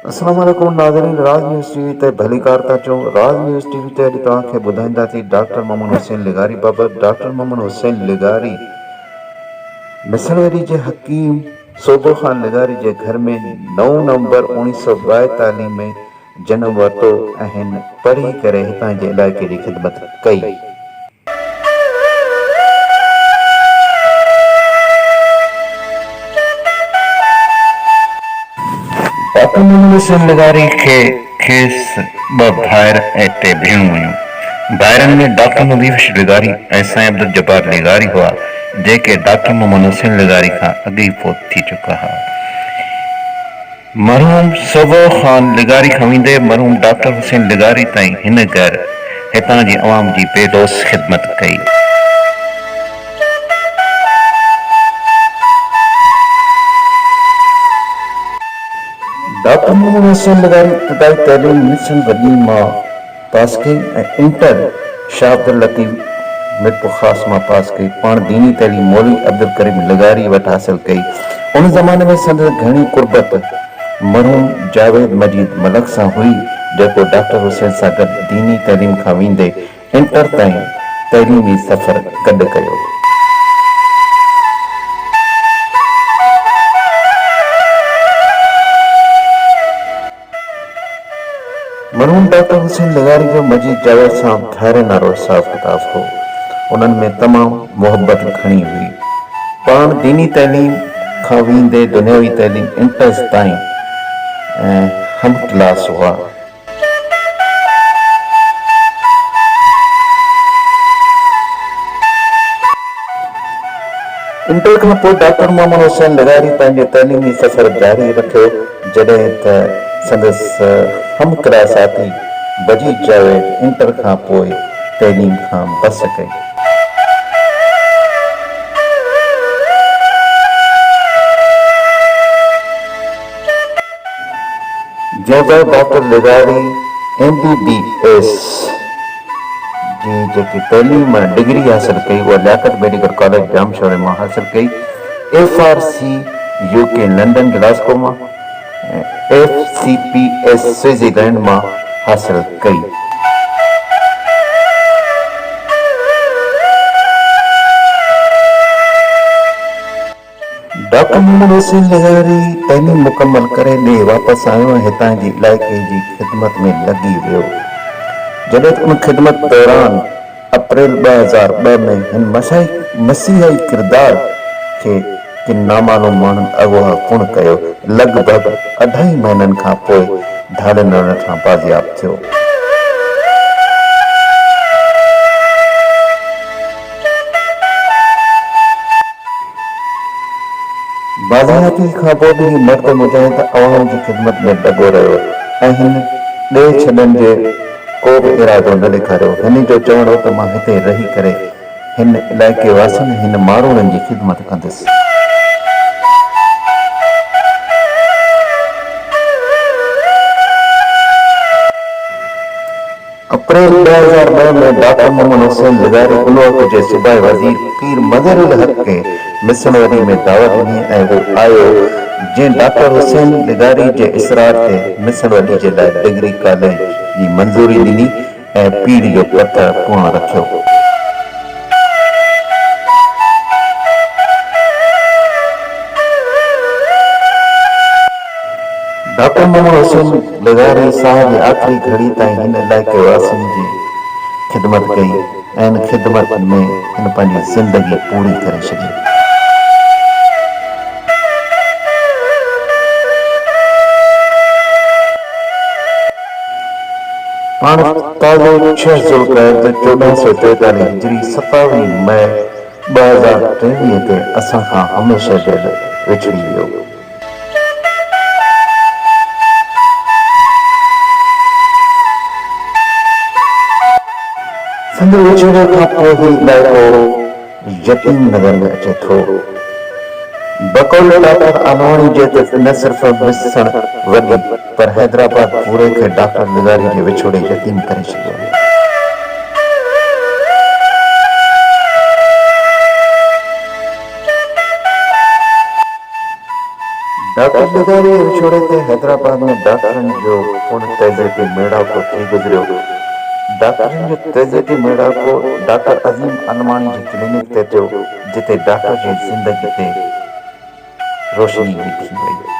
السلام عليڪم ناظرين راز نيوز ٽي وي تي ڀليڪار ٿا چئو راز نيوز ٽي وي تي اڄ توهان کي ٻڌائيندا ٿي ڊاڪٽر محمد حسين لغاري بابت ڊاڪٽر محمد حسين لغاري مصنوعي جي حڪيم سوگو خان لغاري جي گهر ۾ نو نومبر اوڻيهه سؤ ٻائيتاليهه ۾ جنم ورتو ۽ هن پڙهي ڪري هتان جي علائقي جي خدمت ڪئي. آٽو مونو حسين لغاري کي کيس ٻه ڀائر ۽ ٽي ڀيڻون هيون. ڀائرن ۾ ڊاڪٽر نظيفش لغاري ۽ سائين عبدالجبار لغاري هئا، جيڪي ڊاڪٽر محمد حسين لغاري کان اڳ ئي فوت ٿي چڪا هئا. مرحوم سوڀو خان لغاري کان ويندي مرحوم ڊاڪٽر حسين لغاري تائين هن گهر هتان جي عوام جي بي لوث خدمت ڪئي. ڊاڪٽر محمد حسين لغاري ابتدائي تعليم ميسن وڏي مان پاس ڪئي ۽ انٽر شاهه عبداللطيف ميرپورخاص مان پاس ڪئي. پاڻ ديني تعليم مولوي عبدالڪريم لغاري وٽ حاصل ڪئي. ان زماني ۾ سندس گهڻي قربت مرحوم جاويد مجيد ملڪ سان هئي، جيڪو ڊاڪٽر حسين سان گڏ ديني تعليم کان ويندي انٽر تائين تعليمي سفر گڏ ڪيو. مرحوم ڊاڪٽر حسين لغاري جو مجيد جاويد سان ڀائرن وارو حساب ڪتاب هو. انهن ۾ تمام محبت گهڻي هئي. پاڻ ديني تعليم کان ويندي دنياوي تعليم انٽرز تائين ۽ هم ڪلاس هئا. انٽر کان پوء ڊاڪٽر محمد حسين لغاري پنهنجو تعليمي سفر جاري رکيو، جڏهن ته سندس هم ڪلاساتي بجيد جاويد انٽر کان پوء تعليم کان بس ڪئي. جوڳا ڊاڪٽر لغاري ايم بي بي ايس جي جيڪي تعليم ۽ ڊگري حاصل ڪئي اها Liaquat medical college Jamshoro مان حاصل ڪئي، F R C U K London Glasgow مان ۽ F C P S Swaziland مان حاصل ڪئي. ڊاڪٽر محمد حسين لغاري تعليم مڪمل ڪري ڏيهه واپس آيو ۽ هتان جي علائقي جي خدمت ۾ لڳي ويو. جڏهن ته ان خدمت دوران اپريل ٻه هزار ٻه ۾ هن مسيحائي ڪردار کي ڪن نامعلوم ماڻهن اغوا ڪونه ڪيو، لڳ ڀڳ اڍائي مهينن کان پوء ڌاڙيل رڻ کان بازياب ٿيو. بادشاهتي کان پوء به هي مرد مجاهد عوام جي خدمت ۾ لڳو رهيو ۽ هن ڏي ڇڏڻ جي ڪو به ارادو نه ڏيکاريو. هن جو چوڻ هو ته مان هتي رهي ڪري هن علائقي واسين ۽ هن ماروئڙن جي خدمت ڪندس. اپريل ٻه هزار ٻه ۾ ڊاڪٽر محمد حسين لغاري الوهڪ جي صوبائي وزير پير مظهر الحق کي مصر وري ۾ دعوت ڏني ۽ هو آيو جنهن ڊاڪٽر حسين لغاري جي اصرار تي مصر وري جي لاء ڊگري ڪاليج جي منظوري ڏني ۽ پيڙهه جو پٿر پڻ رکيو. ڊاڪٽر محمد حسين. لغاري ساهه جي آخري گهڙي تائين هن علائقي واسين جي خدمت ڪئي ۽ ان خدمت ۾ هن پنهنجي زندگي پوري ڪري ڇڏي. پاڻ تازو ڇهه ذوالقعدھ چوڏهن سؤ چويتاليهه هجري ستاويهه مئي ٻه هزار ٽيويهه تي اسان کان هميشه جي لئه وڇڙي ويو. سندس وڇوڙي کان پوء هي علائقو يتيم نظر ۾ اچي ٿو. بقول ڊاڪٽر آنواڻي جي ته نه صرف مس سڻ وڳي پر حيدرآباد پوري کي ڊاڪٽر نظاري جي وڇوڙي يتيم ڪري ڇڏيو آهي. ڊاڪٽر ڏغاري جي وڇوڙي تي حيدرآباد ۾ ڊاڪٽرن جو پڻ تعزيتي ميڙاڪو ٿي گذريو. ڊاڪٽرن جو تعزيتي ميڙاڪو ڊاڪٽر عظيم علماڻي جي ڪلينڪ تي ٿيو، جتي ڊاڪٽر جي زندگي تي روشني وڌي وئي.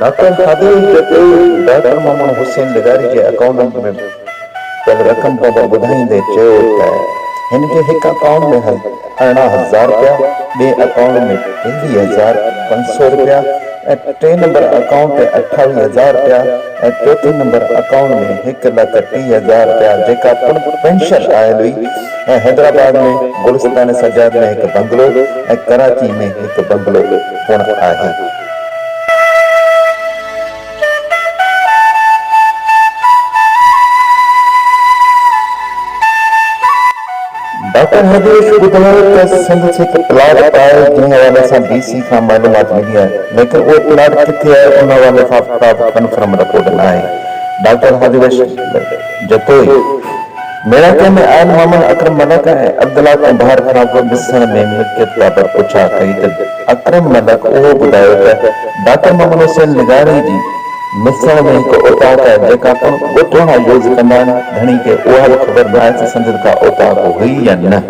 ڊاڪٽر خادم جي پيء ڊاڪٽر محمد حسين لغاري جي اڪائونٽ ۾ پيل رقم بابت ٻڌائيندي چيو ته هن کي هڪ اڪائونٽ ۾ ارڙهن هزار رپيا، ٻئي اڪائونٽ ۾ ٽيويهه هزار پنج سؤ رپيا ۽ ٽئين نمبر اڪائونٽ تي اٺاويهه هزار رپيا ۽ چوٿين نمبر اڪائونٽ ۾ هڪ لک ٽي هزار رپيا جيڪا پڻ پينشن آيل هئي ۽ حيدرآباد ۾ گلستان سجاد ۾ هڪ بنگلو ۽ ڪراچي ۾ هڪ بنگلو پڻ آهي. ڊاڪٽر هرديش ٻڌايو ته سنڌ ۾ هڪ پلاٽ به آهي جنهن حوالي سان ڊي سي کان معلومات ملي آهي ليڪن اهو پلاٽ ڪٿي آهي ان حوالي سان ڪا به ڪنفرم رپورٽ ناهي ڊاڪٽر هرديش جتوئي ميڙاڪي ۾ آيل محمد اڪرم ملڪ ۽ عبدالله ڪنڀار کان به ڏسڻ ۾ ملڪيت بابت پڇا ڪئي ته اڪرم ملڪ اهو ٻڌايو ته ڊاڪٽر محمد حسين لغاري جي مٿڻ ۾ هڪ اوطاق آهي، جيڪا پڻ ڳوٺ وارا يوز ڪندا آهن، ڌڻي کي اها به خبر ناهي ته سندن ڪا اوطاق هئي يا نه.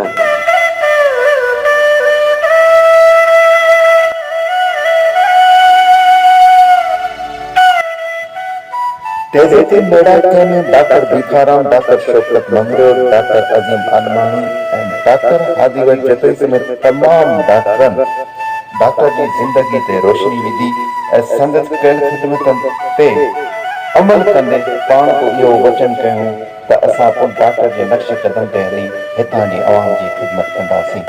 ٽيزي تي ميڙاڪي ۾ doctor Bhikharam, doctor Shaukat Mangrio, doctor Azeem Almani ۽ doctor هادي وٽ جتوئي سميت تمام ڊاڪٽرن، ڊاڪٽر جي زندگي تي روشني وڌي ۽ سندس ڪيل خدمتن تي عمل ڪندي پاڻ به اهو وچن ڪيون ته اسان به ڊاڪٽر جي نقش قدم تي هلي هتان جي عوام جي خدمت ڪنداسين.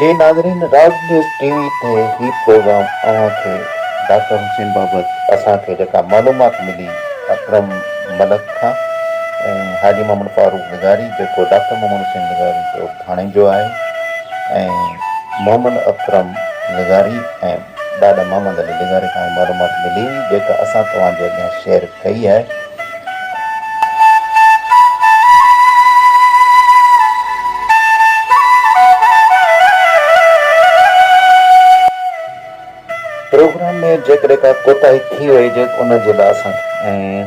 جي ناظرين راز نيوز ٽي وي تي هي پروگرام اوهان کي ڊاڪٽر حسين بابت اسان کي جيڪا معلومات ملي اڪرم ملڪ کان ۽ حاجي محمد فاروق لغاري جيڪو ڊاڪٽر محمد حسين لغاري جو ڀاڻيجو آهي ۽ محمد اڪرم لغاري ۽ ڏاڏا محمد علي لغاري کان اهي معلومات ملي هئي جيڪا اسان توهان جي اڳيان شيئر ڪئي آهي. پروگرام ۾ جيڪڏهن ڪا ڪوتاهي ٿي وئي جي ان جي لاء اسان کي ۽.